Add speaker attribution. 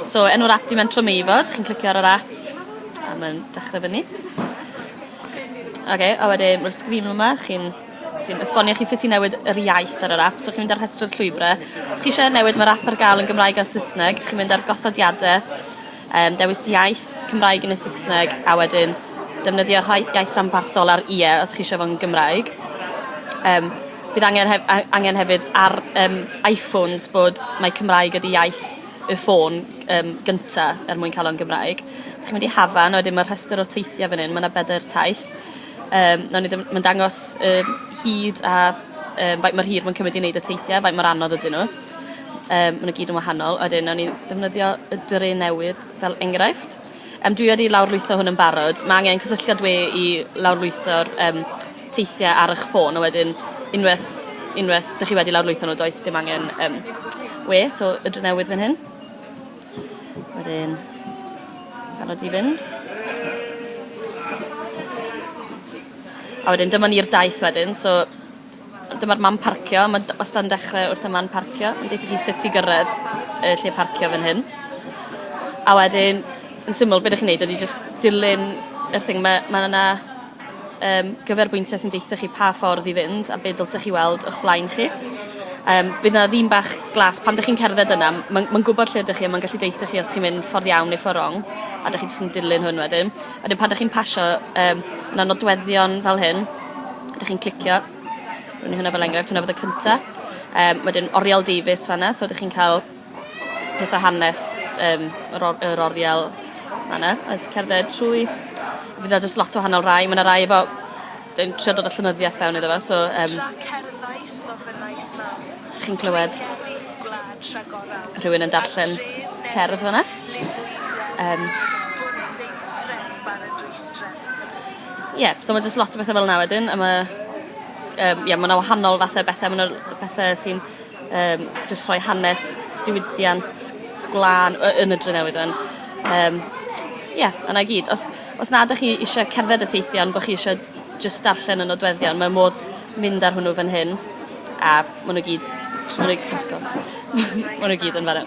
Speaker 1: So, enw'r app di Mentro Meifod, chi'n clicio ar yr app, a mae'n dechrau fyny. Oce, okay, a wedyn mae'r sgrin yma, chi'n sy'n esbonio chi sut i newid yr iaith ar yr app. So chi'n mynd ar rhestru'r llwybrau. Os chi eisiau newid, mae'r app ar gael yn Gymraeg a Saesneg. Chi'n mynd ar gosodiadau, um, dewis iaith, Cymraeg yn y Saesneg, a wedyn defnyddio rhai iaith rhanbarthol ar ie os chi eisiau fo'n Gymraeg. Um, bydd angen, hef angen hefyd ar um, iPhones bod mae Cymraeg ydi iaith y ffôn um, gynta er mwyn cael o'n Gymraeg. Dych chi'n mynd i Hafan, wedyn mae'r rhestr o teithiau fan hyn, mae yna bedair taith. Um, mae'n dangos um, hyd a um, faint mae'r hir mae'n cymryd i wneud y teithiau, faint mae'r anodd ydyn nhw. Um, mae'n gyd yn wahanol. Wedyn, nawn ni ddefnyddio y dre newydd fel enghraifft. Yym, dwi wedi lawrlwytho hwn yn barod. Mae angen cysylltiad we i lawrlwytho'r um, teithiau ar eich ffôn, a wedyn unwaith, unwaith dych chi wedi lawrlwytho nhw, does dim angen um, we, so y dry newydd fan hyn. Wedyn, barod i fynd. A wedyn dyma ni'r daith wedyn, so Dyma'r man parcio, mae wastad yn dechrau wrth y man parcio, yn deitha chi sut i gyrraedd y lle parcio fan hyn. A wedyn, yn syml, beth ydych chi'n neud ydy just dilyn y thing, mae, mae yna um, gyferbwyntiau sy'n deitha chi pa ffordd i fynd a beth dylsech chi weld o'ch blaen chi. Um, bydd yna ddim bach glas, pan ydych chi'n cerdded yna, mae'n ma gwybod lle ydych chi a mae'n gallu deitha chi os chi'n mynd ffordd iawn neu ffordd wrong, a ydych chi jyst yn dilyn hwn wedyn. Wedyn pan dych chi'n pasio, um, yna nodweddion fel hyn, dych chi'n clicio, rwy'n ni hwnna fel enghraifft, hwnna fod y cynta. Um, wedyn Oriel Davies fanna, so dych chi'n cael pethau hanes um, yr, or, yr Oriel fanna, a ti'n cerdded trwy, fydd yna jyst lot o wahanol rai, mae yna rai efo yn trio dod â llenyddiaeth fewn iddo fe, so... Um, Tra cerddais fel fy nais mam. Chi'n clywed... Rhywun yn darllen cerdd fyna. Um, Ie, yeah, so mae jyst lot o bethau fel yna wedyn, a mae... Um, yeah, mae yna wahanol fathau bethau, mae yna bethau sy'n um, jyst rhoi hanes diwydiant gwlân yn y dre newydd yn. Um, yeah, yna gyd. Os, Os na ydych chi eisiau cerdded y teithiau ond bod chi eisiau jyst darllen y nodweddion, mae modd mynd ar hwnnw fan hyn a maen nhw gyd... Maen nhw gyd yn fan'na.